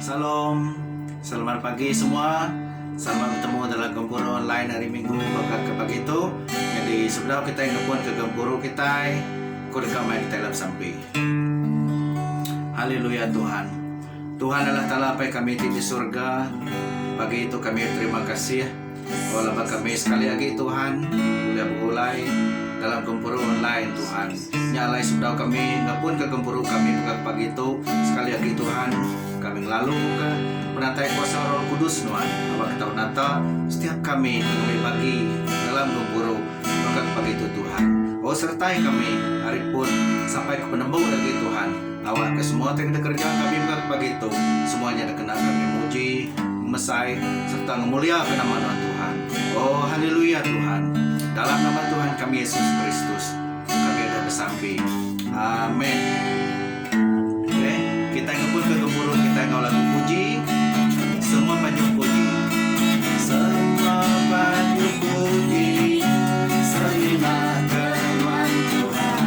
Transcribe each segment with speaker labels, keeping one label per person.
Speaker 1: Shalom. Selamat pagi semua. Sama betemu dalam gempuru online hari minggu baka ke pagi tu. Jadi sebedau kitai ngepun ke gempuru kitai, ku deka mai kitai dalam sampi. Haleluya Tuhan. Tuhan Allah Taala Apai kami ti di surga, pagi tu kami beterima kasih O laban kami sekali agi Tuhan ulih begulai dalam gempuru online Tuhan nya alai sebedau kami ngepunka gempuru kami mega ke pagi tu sekali agi Tuhan kami ngelaluka penatai kuasa roh kudus nuan aba ke tau nata setiap kami ke ngambi bagi dalam gempuru mega ke pagi tu Tuhan o sertai kami ari pun sampai ke penembu agi Tuhan. Awak ke semua ti kena kereja kami mega ke pagi tu, semua nya dikena kami muji, mesai, sereta ngemuliaka nama nuan Tuhan. Oh, haleluya, Tuhan! Dalam nama Tuhan kami Yesus Kristus, kami udah besampi. Amen. Okey, kitai ngempunka gempuru kitai enggau lagu puji. Semua panjung puji. Semua panjung puji. Semina ke nuan Tuhan.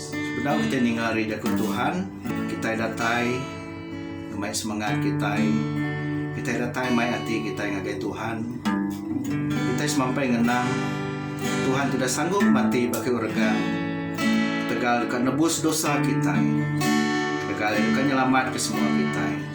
Speaker 1: Sebedau kitai ninga ari jaku Tuhan, kitai datai ngemai semengat kitai. Kitai datai mai ati kitai ngagai Tuhan. Kitai semampai ngenang Tuhan ti udah sanggup mati ba kayu organ ketegal deka nebus dosa kitai, ketegal Iya deka nyelamatka semua kitai.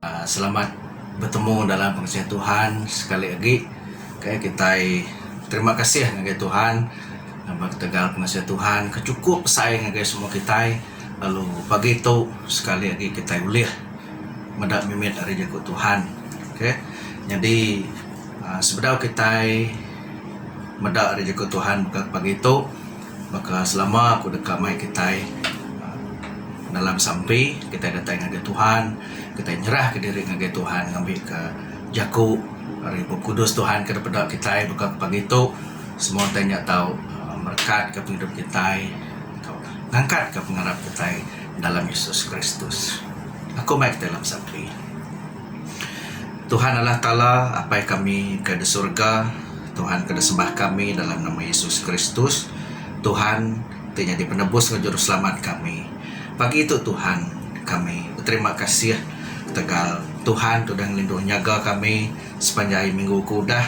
Speaker 1: Selamat betemu dalam pengasian Tuhan sekali agi okay kitai terima kasih ngagai Tuhan laban ketegal pengasian Tuhan ke chukup besai ngagai semua kitai lalu pagi tu sekali agi kitai ulih meda mimit ari jaku Tuhan okay nyadi sebedau kitai meda ari jaku Tuhan ka pagi tu. Baka selama aku deka mai kitai dalam sampi, kitai datai ngagai Tuhan, kitai nyerahka diri ngagai Tuhan ngambika jaku ari Bup Kudus Tuhan ke dipeda kitai baka ku pagi tu semua utai nya tau merekat pengidup kitai tau ngangkatka pengarap kitai dalam Yesus Kristus. Aku mai kitai dalam sampi. Tuhan Allah Taala, Apai kami ke di surga, Tuhan ke disembah kami dalam nama Yesus Kristus, Tuhan ti nyadi penebus enggau juruselamat kami. Pagi tu Tuhan, kami beterima kasih ketegal Tuhan tu udah ngelinduh nyaga kami sepanjai minggu ke udah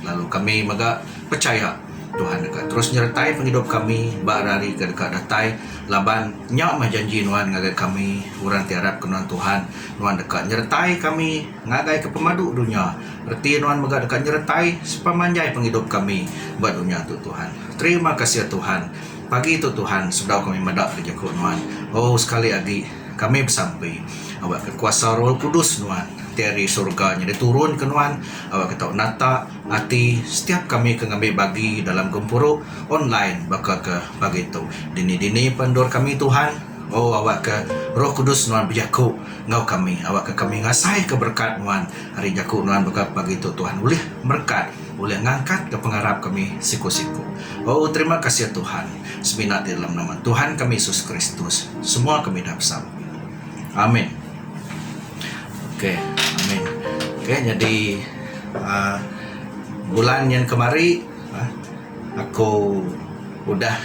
Speaker 1: lalu kami mega pechaya Tuhan deka terus nyertai pengidup kami ba hari-hari ke deka datai laban nya mah janji Nuan ngagai kami orang ti arap ke nuan Tuhan. Nuan deka nyeretai kami ngagaika pemadu dunya. Reti Nuan mega deka nyeretai sepemanjai pengidup kami ba dunya tu, Tuhan. Terima kasih, Tuhan. Pagi tu, Tuhan, sebedau kami meda ke jeku Nuan, oh, sekali agi kami besampi, awakka kuasa Roh Kudus Nuan ti ari surga nyadi turun ke Nuan, awakka tau nata ati setiap kami ke ngambi bagi dalam gempuru online baka ke pagi tu. Dini-dini pun endur kami, Tuhan. O awakka Roh Kudus Nuan bejaku enggau kami, awakka kami ngasaika berekat Nuan ari jaku Nuan baka pagi tu Tuhan ulih merekat ulih ngangkatka pengarap kami siku-siku. O terima kasih Tuhan, semina ti dalam nama Tuhan kami Yesus Kristus semua kami dah besampi. Amin. Ok, amin. Ok, nyadi aaa bulan nyin kemari. Aku udah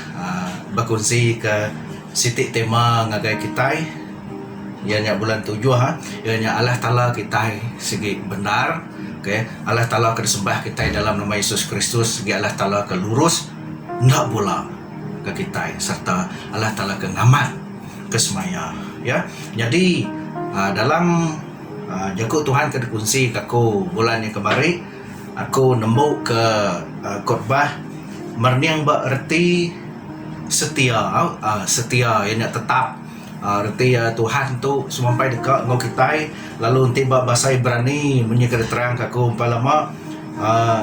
Speaker 1: bekunsi ke siti tema ngagai kitai iya nya bulan tujuh iya nya Allah Taala kitai sigi bendar okay Allah Taala ke disembah kitai dalam nama Yesus Kristus sigi Allah Taala ke lurus enda bula ke kitai serta Allah Taala ke ngamat ke semaya iya nyadi dalam jaku Tuhan ke dikunsi ke aku bulan nya kemari Aku nembu ke kutbah merning ba reti setia uhh setia iya nya tetap uhh reti Tuhan tu semampai deka enggau kitai lalu enti ba bahasa Ibrani munyi ke diterang ka aku empai lama uhh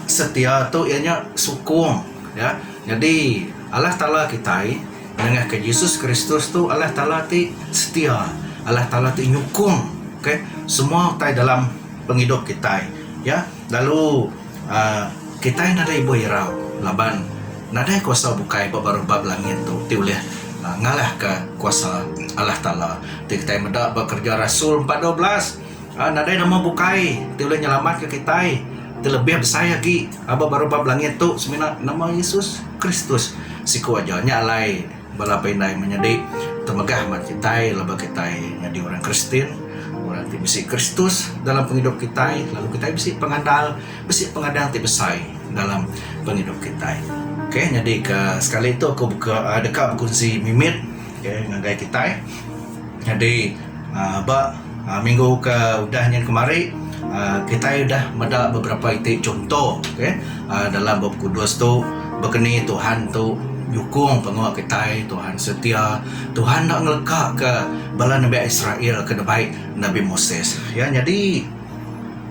Speaker 1: setia tu iya nya sukung ya nyadi Allah Taala kitai nengah ka Jesus Kristus tu Allah Taala ti setia Allah Taala ti nyukung okay semua utai dalam pengidup kitai iya lalu uhh kitai nadai ibuh irau laban nadai kuasa bukai ba baruh bab langit tu ti ulih ngalahka kuasa Allah Taala ti kitai meda ba kerja rasul empat dua belas uhh nadai nama bukai ti ulih nyelamatka kitai ti lebih besai agi ba baruh bab langit tu semina nama Yesus Kristus siku aja nya alai Bala pindai menyadi temegah ba kitai laban kitai nyadi orang Kristian, orang ti bisi Kristus dalam pengidup kitai lalu kitai bisi pengandal, bisi pengadang ti besai dalam pengidup kitai. Okay, nyadi ke sekali tu aku beka deka bekunsi mimit okay, ngagai kitai. Nyadi aaa ba minggu ke udah nyin kemari aaa kitai udah meda beberapa iti chunto okey aaa dalam bup kudus tu begeni Tuhan tu nyukung pengua kitai Tuhan setia Tuhan enda ngeleka ke bala nembiak Israel ke dibai Nabi Moses. Ya nyadi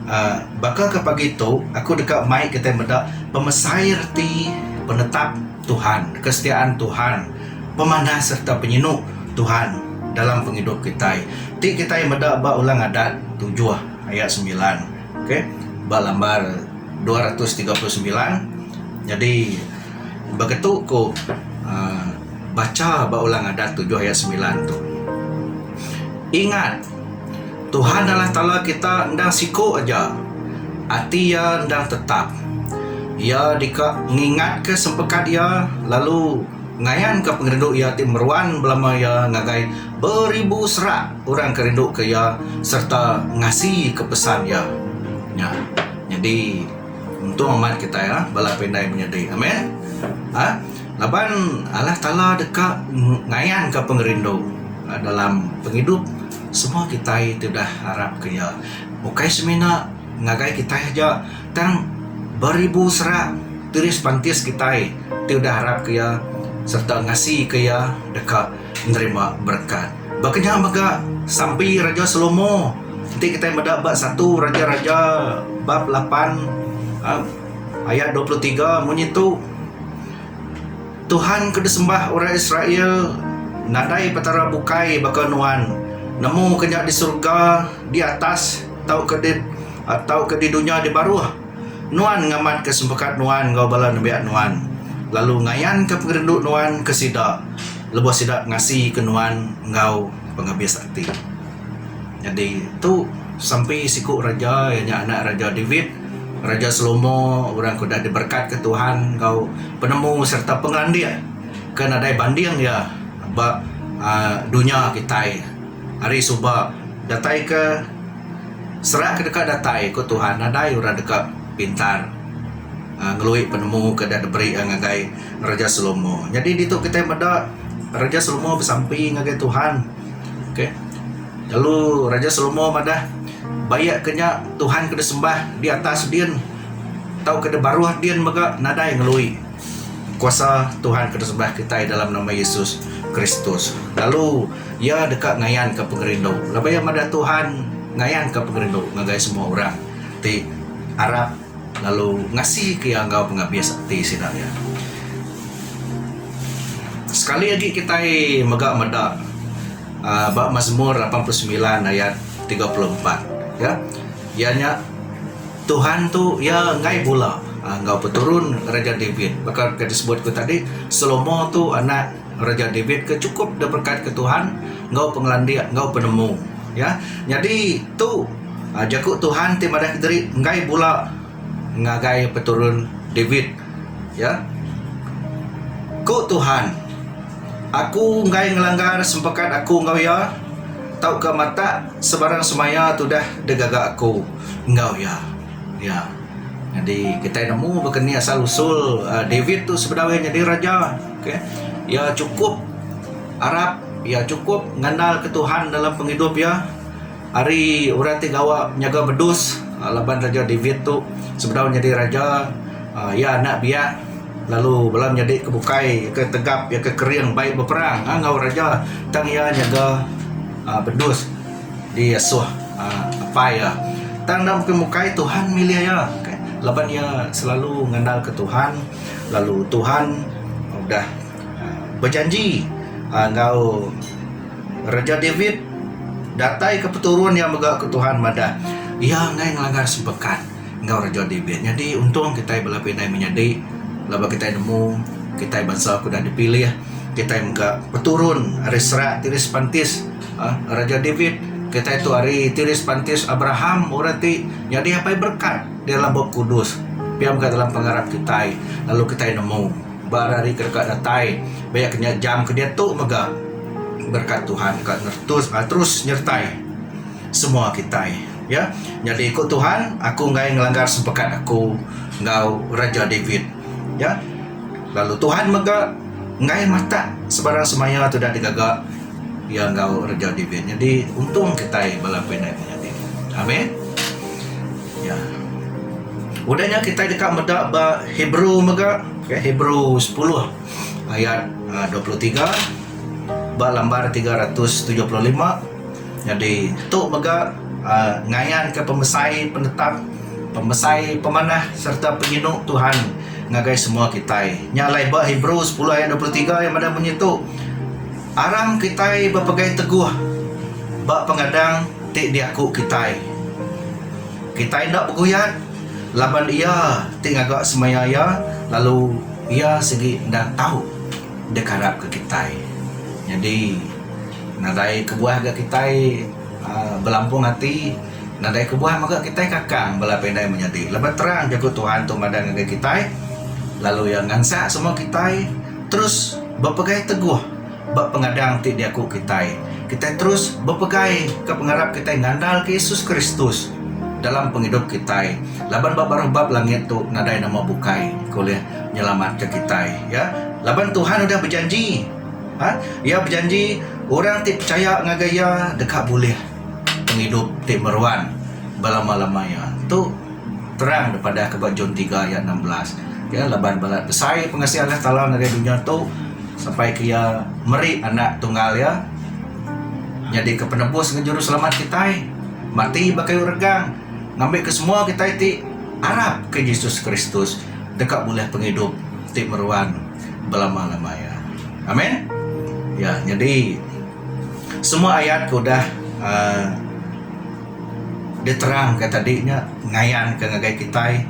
Speaker 1: aaa baka ke pagi tu aku deka mai kitai meda pemesai reti penetap Tuhan, kesetiaan Tuhan, pemanah sereta penyinu Tuhan dalam pengidup kitai ti kitai meda ba Ulang Adat tujuh ayat semilan okay ba lambar dua ratus tiga puluh semilan nyadi begitu ku uhh bacha ba Ulang Adat tujuh ayat semilan tu ingat Tuhan Allah Taala kita endang siku aja, ati Iya endang tetap. Iya deka ngingatka sempekat Iya lalu ngayanka pengerindu Iya ti meruan belama Iya ngagai beribu serak orang ke rinduka Iya sereta ngasika pesan Iya. Nya. Nyadi untung amat kitai bala pindah menyadi. Amen. Aa. Laban Allah Taala deka ngayanka pengerindu dalam pengidup semua kitai ti udah arapka Iya, ukai semina ngagai kitai aja tang beribu serak tiris pantis kitai ti udah arapka Iya sereta ngasika Iya deka nerima berekat. Baka nya mega sampi Raja Salomo enti kitai meda ba satu Raja-Raja bab lapan. Ayat dua puluh tiga, Munyi tu Tuhan ke disembah orang Israel, Nadai petara bukai baka Nuan, nemu ke nya di serega di atas tauka di tauka di dunya di baruh. Nuan ngamatka sempekat Nuan enggau bala nembiak Nuan, lalu ngayanka pengerindu Nuan ke sida lebuh sida ngasika Nuan enggau pengabis ati. Nyadi tu sampi siku raja iya nya anak Raja David, Raja Salomo orang ke udah diberekatka Tuhan enggau penemu sereta pengelandik ke nadai banding iya ba aaa dunya kitai hari suba. Datai ke serak ke deka datai ku Tuhan nadai orang deka pintar aaa ngelui penemu ke dah diberi iya ngagai Raja Salomo. Nyadi ditu kitai meda Raja Salomo besampi ngagai Tuhan. Lalu Raja Salomo madah, Baya ke nya Tuhan ke disembah di atas din tauka di baruh din mega nadai ngelui kuasa Tuhan ke disembah kitai dalam nama Yesus Kristus. Lalu iya deka ngayanka pengerindu. Laban iya madah Tuhan ngayanka pengerindu ngagai semua orang ti arap. Lalu ngasika iya enggau pengabis ati sida iya. Sekali agi kitai mega meda uhh ba Mazmur lapan puluh semilan ayat tiga puluh empat ya iya nya Tuhan tu iya enggai bula enggau peturun Raja David baka ke disebut ku tadi Salomo tu anak Raja David ke chukup diberkatka Tuhan enggau pengelandik enggau penemu. Ya. Nyadi tu ah, jaku Tuhan ti madahka diri enggai bula ngagai peturun David. Ya. Ku Tuhan, Aku enggai ngelanggar sempakat Aku enggau iya, tauka matak sebarang semaya tudah digaga Aku enggau iya. Ya. Nyadi kitai nemu baka ni asal usul ah, David tu sebedau iya nyadi raja. Iya chukup arap, iya chukup ngandalka Tuhan dalam pengidup iya. Ari orang ti gawa nyaga bedus laban Raja David tu sebedau nyadi raja, iya anak biak lalu bala menyadi ke bukai iya ke tegap iya ke kering bai beperang enggau raja tang iya nyaga bedus diasuh apai iya. Tang enda bukai Tuhan milih iya laban iya selalu ngandalka Tuhan. lalu Tuhan udah bejanji enggau Raja David datai ke peturun iya mega ke Tuhan madah iya enggai ngelanggar sepekat enggau Raja David nyadi untung kitai bala pinai menyadi laban kitai nemu kitai bansa ke udah dipilih kitai mega peturun ari serak tiri sepantis Raja David kitai tu ari tiri sepantis Abraham orang ti nyadi apai berkat. Di dalam Bup Kudus, pia mega dalam pengarap kitai, lalu kitai nemu, ba hari-hari ke deka datai, baya ke nya jam ke diatu mega, berkat Tuhan deka neretus, aa, terus nyertai semua kitai. Ya, nyadi ku Tuhan, Aku enggai ngelanggar sepekat Aku enggau Raja David. Ya, lalu Tuhan mega enggai matak sebarang semaya tudah digaga. Iya enggau reja David nyadi untung kitai bala pindah menyadi. Amin. Ya. Udah nya kitai deka meda ba Hebrew mega, okay, Hebrew 10 ayat 23 ah, ba lambar 375. Nyadi tu mega uh, ngayanka pemesai penetap, pemesai pemanah serta penyinu Tuhan ngagai semua kitai. Nya alai ba Hebrew 10 ayat 23 yang meda munyi tu. Aram kitai bepegai teguh ba pengadang ti diaku kitai. Kitai enda beguyat laban Iya ti ngaga semaya iya lalu Iya sigi enda tau dikarapka kitai. Nyadi, nadai kebuah ga kitai belampung ati, nadai kebuah mega kitai kakang bala pinai menyadi laban terang Jaku Tuhan tu madah ngagai kitai lalu Iya ngansak semua kitai. terus bepegai teguh ba pengadang ti diaku kitai. Kitai terus bepegai ke pengarap kitai ngandalka Yesus Kristus dalam pengidup kitai laban ba baruh bab langit tu nadai nama bukai ke ulih nyelamatka kitai ya. Laban Tuhan udah bejanji ha Iya bejanji orang ti pechaya ngagai Iya deka bulih pengidup ti meruan belama-lama iya. Tu. Terang dipadahka ba John tiga ayat enam belas. Iya laban balat besai pengasian Allah Taala ngagai dunya tu sampai ke iya meri anak tunggal iya nyadika penebus enggau juruselamat kitai mati ba kayu regang ngambika semua kitai ti arapka Jesus Kristus deka bulih pengidup ti meruan belama-lama iya. Amen. Ya, nyadi semua ayat ke udah uhh diterangka tadi nya ngayanka ngagai kitai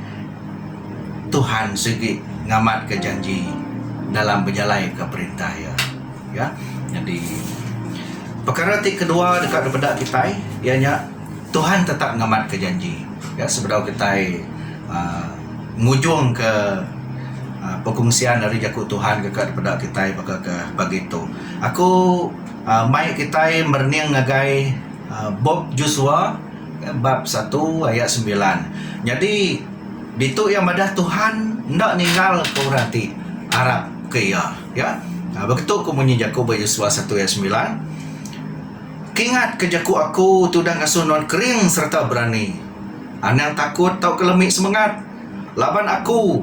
Speaker 1: Tuhan sigi ngamatka janji dalam bejalaika perintah Iya. Ya. Nyadi pekara ti kedua deka dipeda kitai iya nya Tuhan tetap ngamatka janji. Ya sebedau kitai uh, ngujungka uh, perkongsian ari jaku Tuhan deka dipeda kitai baka ke pagi tu. Aku uh, mai kitai merening ngagai Bup Josua bab satu ayat sembilan. Nyadi ditu iya madah Tuhan enda ninggalka orang ti arapka iya. Ya. Begitu ku munyi jaku ba Josua satu ayat sembilan. Kingatka jaku aku tudah ngasuh nuan kering sereta berani. Anang takut tauka lemi semengat. Laban aku,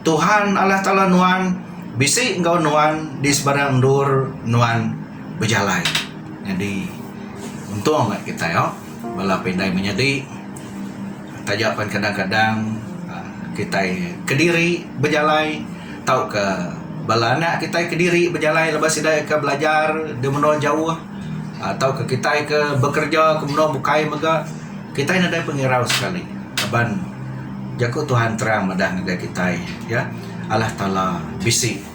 Speaker 1: Tuhan Allah Taala nuan, bisi enggau nuan di sebarang endur nuan bejalai. Nyadi untung nya kitai awk bala pindai menyadi taja pen kadang kadang kitai kediri bejalai tauka bala anak kitai kediri bejalai laban sida ika belajar di menoa jauh tauka kitai ke bekerja ke menoa bukai mega kitai nadai pengirau sekali laban jaku Tuhan terang madah ngagai kitai ya Allah taala bisi.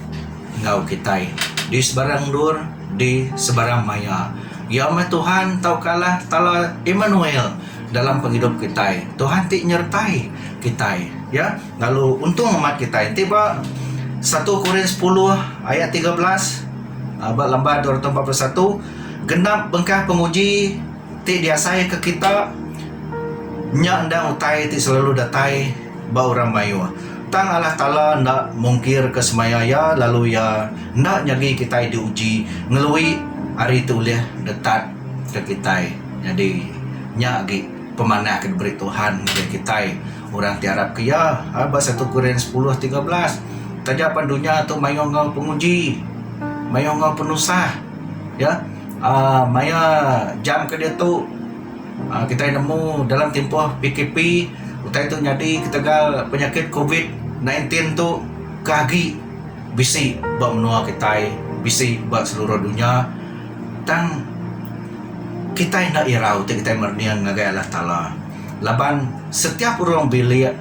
Speaker 1: enggau kitai di sebarang endur di sebarang maya. Ya meh Tuhan tauka Allah Taala Immanuel dalam pengidup kitai. Tuhan ti nyertai kitai ya lalu untung amat kitai. Enti ba satu Korin sepuluh ayat tiga belas um ba Lamban dua ratus empat puluh satu genap bengkah penguji ti diasaika kita nya endang utai ti selalu datai. ba orang mayuh. Tang Allah Taala enda mungkirka semaya iya lalu iya enda nyadi kitai diuji ngelui ari ti ulih detatka kitai. Nyadi, nya agi pemanah ke diberi Tuhan ngagai kitai orang ti arapka iya. Ba satu Korin sepuluh tiga belas, Taja pan dunya tu mayuh enggau penguji, mayuh enggau penusah, iya, maya jam ke diatu. Kitai nemu dalam timpuh PKP utai tu nyadi ketegal penyakit covid nine teen tu ke agi bisi ba menua kitai bisi ba seluruh dunya tang kitai enda irau ti kitai merening ngagai Allah Taala laban setiap orang bilik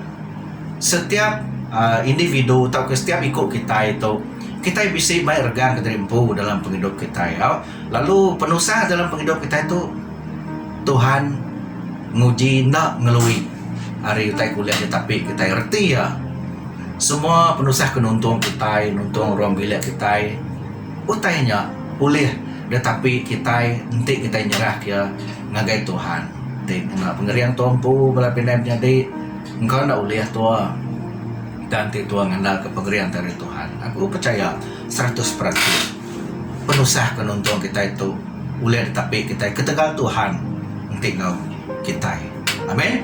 Speaker 1: setiap uhh individu tauka setiap iku kitai tu kitai bisi mai regang kediri empu dalam pengidup kitai au. Lalu penusah dalam pengidup kitai tu Tuhan nguji enda ngelui ari utai kulit dia tapi kitai reti iya. Semua penusah ke nuntung kitai, nuntung ruang bilik kitai utai nya ulih dia tapi kitai enti kitai nyerahka iya ngagai Tuhan. Ti ngena pengering tua empu bala pinai menyadi engka enda ulih tua tang enti tua ngandalka pengering ti ari Tuhan aku pechaya seratus peratus. penusah ke nuntung kitai tu ulih ditapi kitai ketegal Tuhan enti enggau kitai. Amen.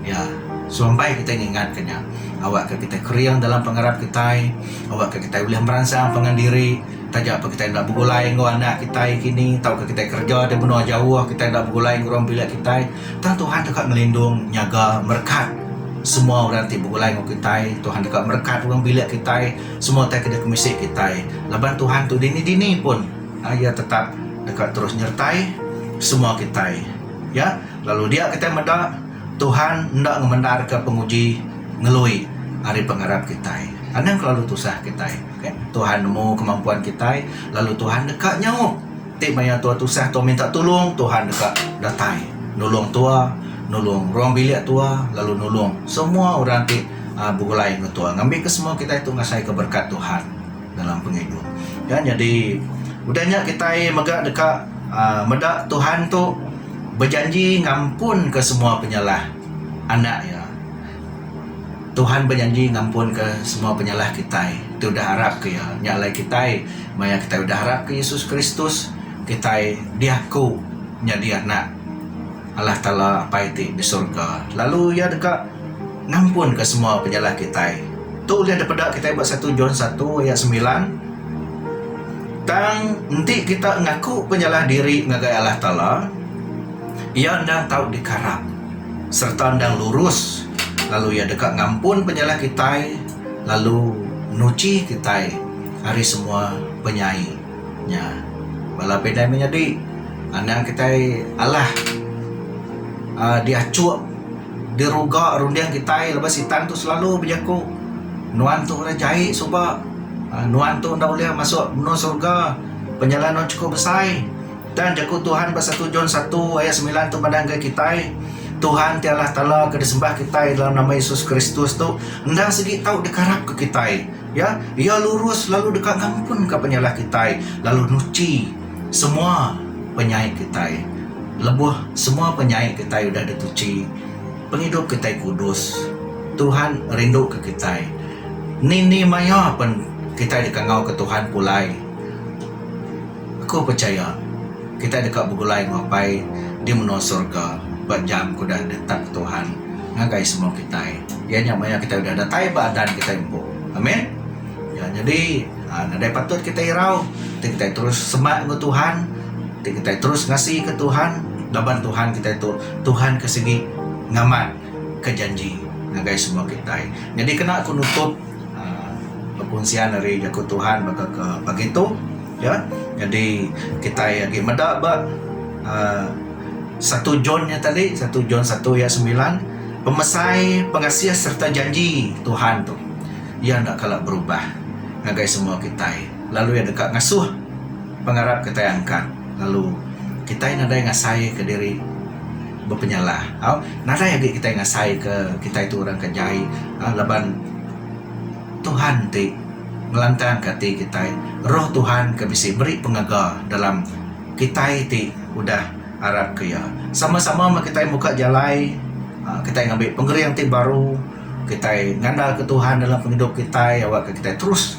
Speaker 1: Ya, serumbai kitai ngingat ke nya awak ke kitai kering dalam pengarap kitai, awak ke kitai ulih meransang pangan diri taja pa kitai enda begulai enggau anak kitai kini tauka kitai kereja di menua jauh kitai enda begulai enggau orang bilik kitai. Tang Tuhan teka ngelindung, nyaga, merekat semua orang ti begulai enggau kitai. Tuhan teka merekat orang bilik kitai. Semua utai ke dikumisi kitai laban Tuhan tu dini-dini pun Iya tetap deka terus nyertai semua kitai. Ya, lalu dia kitai meda Tuhan enda ngemendarka penguji ngelui ari pengarap kitai. Anang kelalu tusah kitai. Tuhan nemu kemampuan kitai lalu Tuhan deka nyaup. Ti maya tua tusah tua minta tulung Tuhan deka datai nulung tua nulung ruang bilik tua lalu nulung semua orang ti begulai ngan tua ngambi ke semua kitai tu ngasai ke berkat Tuhan dalam pengidup kan nyadi udah nya kitai mega deka um meda Tuhan tu bejanji ngampun ke semua penyalah anak iya. Tuhan bejanji ngampunka semua penyalah kitai. Ti udah arap ke iya. Nya alai kitai, maya kitai udah arap ke Yesus Kristus, kitai diaku nyadi anak Allah Taala Apai ti di surga. Lalu iya deka ngampunka semua penyalah kitai. Tu ulih dipeda kitai ba satu John satu ayat semilan, Tang enti kita ngaku penyalah diri ngagai Allah Taala, iya enda tau dikarap. sereta endang lurus lalu iya deka ngampun penyalah kitai lalu nuchi kitai ari semua penyai nya. Bala pindah mih nyadi anang kitai alah aaa diachuk diruga runding kitai laban sitan tu selalu bejaku nuan tu orang jai suba nuan tu enda ulih masuk menua surga penyalah nuan chikup besai. Dan jaku Tuhan ba satu John satu ayat semilan tu madah enggai kitai, Tuhan ti Allah Taala ke disembah kitai dalam nama Yesus Kristus tu endang sigi tau dikarapka kitai. Ya, Iya lurus lalu deka ngampunka penyalah kitai lalu nuchi semua penyai kitai. Lebuh semua penyai kitai udah dituchi, pengidup kitai kudus. Tuhan rinduka kitai. Ni-ni maya pen kitai deka ngauka Tuhan pulai. Aku pechaya, kitai deka begulai enggau Apai di menua sorga ba jam ke udah ditetapka Tuhan ngagai semua kitai, iya nya maya kitai udah datai ba adan kitai empu. Amen. Nya nyadi, nadai patut kitai irau ti kitai terus semak enggau Tuhan, ti kitai terus ngasika Tuhan laban Tuhan kitai tu Tuhan ke sigi ngamat. ke janji ngagai semua kitai. Nyadi kena aku nutup aaa bekunsian ari jaku Tuhan baka ke pagi tu ya. Nyadi kitai agi meda ba aaa satu John nya tadi, satu John satu ayat semilan, pemesai pengasih sereta janji Tuhan tu iya enda kala berubah ngagai semua kitai lalu iya deka ngasuh pengarap kitai angkat lalu kitai nadai ngasai ke diri. bepenyalah tau nadai agi kitai ngasai ke kitai tu orang ke jai um laban Tuhan ti ngelantang ke ati kitai roh Tuhan ke bisi beri pengaga dalam kitai ti udah arap ke iya sama sama meh kitai muka jalai um kitai ngambi pengering ti baru kitai ngandalka Tuhan dalam pengidup kitai awak ke kitai terus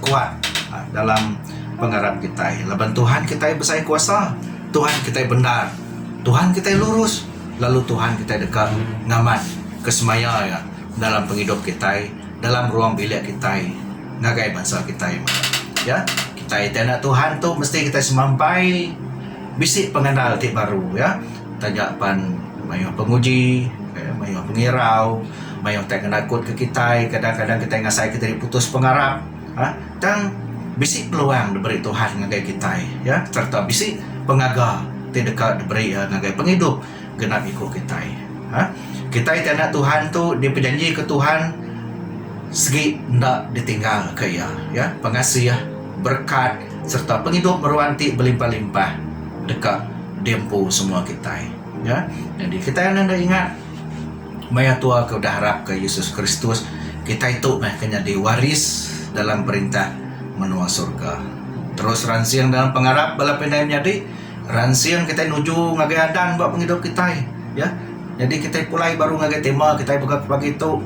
Speaker 1: kuat dalam pengarap kitai laban Tuhan kitai besai kuasa Tuhan kitai bendar. Tuhan kitai lurus, lalu Tuhan kitai deka ngamat ke semaya Iya dalam pengidup kitai, dalam ruang bilik kitai ngagai bansa kitai. Ya, kitai ti anak Tuhan tu mesti kitai semampai bisi pengandal ti baru ya, taja pan mayuh penguji, mayuh pengirau, mayuh tai ke nakut ke kitai, kadang-kadang kitai ngasai ke diri putus pengarap. Tang bisi peluang diberi Tuhan ngagai kitai sereta bisi pengaga ti deka diberi Iya ngagai pengidup genap iku kitai. Kitai ti anak Tuhan tu dipejanjika Tuhan sigi enda ditinggalka Iya. Pengasih, berekat sereta pengidup meruan ti belimpah-limpah deka diempu semua kitai. Nyadi kitai enda ingat. Maya tua ke udah arapka Yesus Kristus, kitai tu meh ke nyadi waris dalam Perintah menua sorga. Terus ransing dalam pengarap bala pinai menyadi, ransing kitai nuju ngagai adan ba pengidup kitai. Ya. Nyadi kitai pulai baru ngagai tema kitai mega ke pagi tu.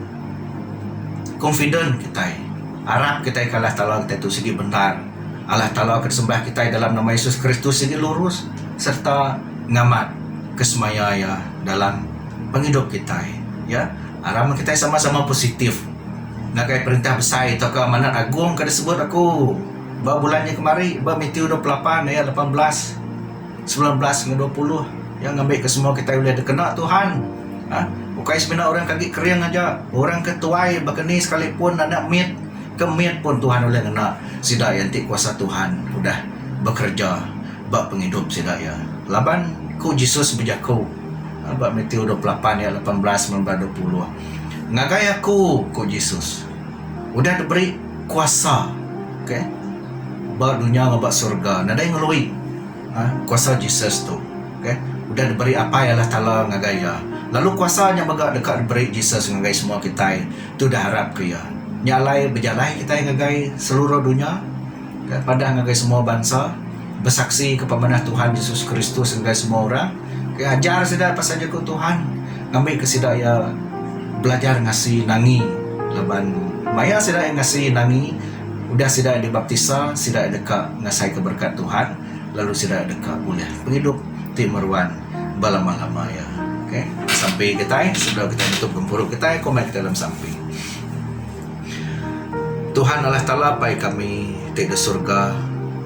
Speaker 1: Confident kitai. Arap kitai ke Allah Taala kitai tu sigi bendar. Allah Taala ke disembah kitai dalam nama Yesus Kristus sigi lurus sereta ngamat kesemaya iya. dalam pengidup kitai ya aram kitai sama-sama positif ngagai perintah besai tauka manah agung ke disebut aku ba bulan nya kemari ba metew dua puluh lapan aya lapan belas semilan belas enggau dua puluh ya ngambi ke semua kitai ulih dikena Tuhan um ukai semina orang ke agi kering aja orang ke tuai baka ni sekalipun anak mit ke mit pun Tuhan ulih ngena sida enti kuasa Tuhan udah bekereja. ba pengidup sida iya. Laban ku Jesus bejaku ba Matiu dua puluh lapan ayat lapan belas mega dua puluh, Ngagai aku, ku Jesus, udah diberi kuasa okay, ba dunya enggau ba surga. Nadai ngelui um kuasa Jesus tu. Okay. Udah diberi Apai Allah Taala ngagai iya. Lalu kuasa nya mega deka diberi Jesus ngagai semua kitai ti udah arap ke iya. Nya alai bejalai kitai ngagai seluruh dunya. Ga padah ngagai semua bansa, besaksi ke pemanah Tuhan Jesus Kristus ngagai semua orang, ke ajar sida pasal jaku Tuhan, ngambi ke sida iya belajar ngasi nangi laban maya sida iya ngasi nangi udah sida iya dibaptisa sida iya deka ngasaika berekat Tuhan lalu sida iya deka bulih pengidup ti meruan belama-lama iya. Okay, sampi kitai sebedau kitai nutup gempuru kitai, komit kitai dalam sampi. Tuhan Allah Taala apai kami ti da surga.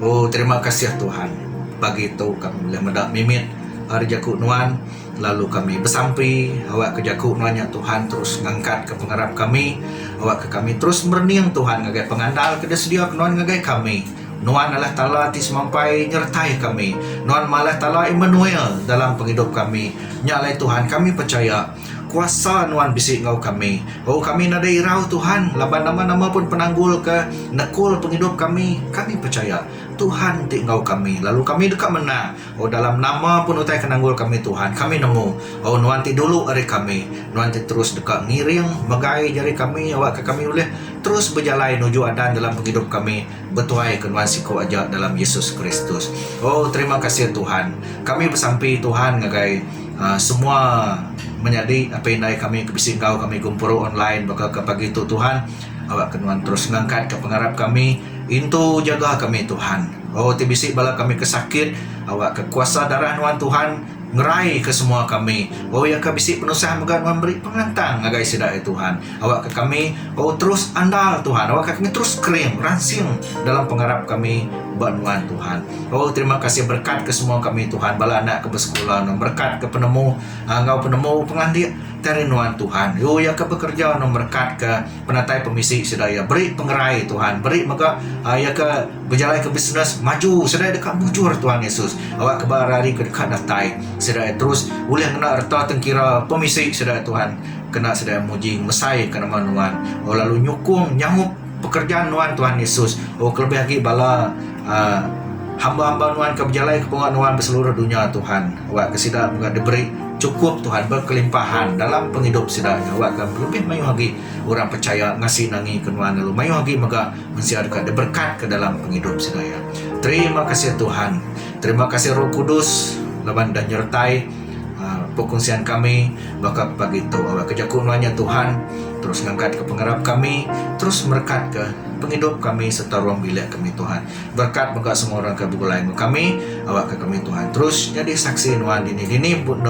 Speaker 1: Oh terima kasih Tuhan pagi tu kami ulih meda mimit ari jaku nuan lalu kami besampi awak ke jaku nuan nya Tuhan terus ngangkat ke pengarap kami awak ke kami terus merening Tuhan ngagai pengandal ke disedia ke nuan ngagai kami. Nuan Allah Taala ti semampai nyertai kami. Nuan mah Allah Taala Immanuel dalam pengidup kami. Nya alai Tuhan kami pechaya. Kuasa Nuan bisi enggau kami. Oh, kami nadai irau, Tuhan, laban nama-nama pun penanggul ke nekul pengidup kami, kami pechaya Tuhan ti enggau kami, lalu kami deka menang. Oh, dalam nama pun utai ke nanggul kami, Tuhan, kami nemu, oh, Nuan ti dulu ari kami. Nuan ti terus deka ngiring, megai jari kami awakka kami ulih terus bejalai nuju adan dalam pengidup kami, betuai ke Nuan siku aja dalam Yesus Kristus. Oh, terima kasih, Tuhan. Kami besampi, Tuhan, ngagai. uhh semua menyadi apai indai kami ke bisi enggau kami gempuru online baka ke pagi tu Tuhan awa ke nuan terus ngangkat ka pengarap kami intu jaga kami Tuhan oh ti bisi bala kami ke sakit awa ke kuasa darah nuan Tuhan ngerai ke semua kami oh iya ka bisi penusah mega nuan beri pengelantang ngagai sida ai Tuhan. Awakka kami oh terus andal Tuhan. Awakka kami terus kering, ransing dalam pengarap kami ba nuan Tuhan. Oh terima kasih berkat ke semua kami Tuhan bala anak ke besekula no berkat ke penemu ah, enggau penemu pengandik dari nuan Tuhan. Yo ya ke bekerja no berkat ke penatai pemisi sida ya beri pengerai Tuhan, beri mega ah, ya ke bejalai ke bisnes maju sida dekat mujur Tuhan Yesus. Awak ke hari ke dekat datai sida terus ulih ngena reta tengkira pemisi sida Tuhan. kena sedia muji mesai ke nama nuan oh lalu nyukung nyaup pekerjaan nuan Tuhan Yesus oh kelebih agi bala um hamba-hamba nuan ke bejalai ke pengawa nuan beseluruh dunya Tuhan awak ke sida mega diberi chukup Tuhan berkelimpahan dalam pengidup sida iya awak ke lebih mayuh agi orang pechaya ngasi nangi ke nuan lalu mayuh agi mega mensia deka diberkat ke dalam pengidup sida iya terima kasih Tuhan terima kasih roh kudus laban dah nyertai um perkongsian kami. Baka pagi tu awak ke jaku melanya Tuhan terus ngangkat ke pengerap kami terus merekat ke pengidup kami serta ruang bilik kami Tuhan berkat mega semua orang ke begulai enggau kami awak ke kami Tuhan terus nyadi saksi nuan dini dini pun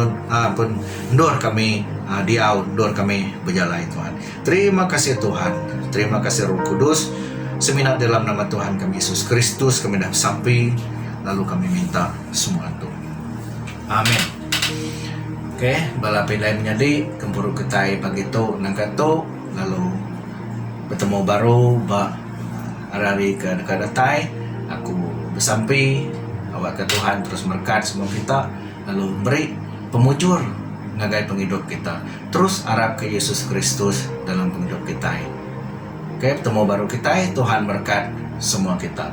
Speaker 1: pun endur kami diau endur kami bejalai Tuhan terima kasih Tuhan terima kasih roh kudus semina dalam nama Tuhan kami Yesus Kristus kami dah besampi lalu kami minta semua tu. Amen. Ok, bala pindai menyadi gempuru kitai pagi tu nangka tu lalu betemu baru ba hari-hari ke deka datai. Aku besampi awakka Tuhan terus merekat semua kita lalu meri pemujur ngagai pengidup kita. Terus arapka Yesus Kristus dalam pengidup kitai. Ok, betemu baru kitai. Tuhan merekat semua kita.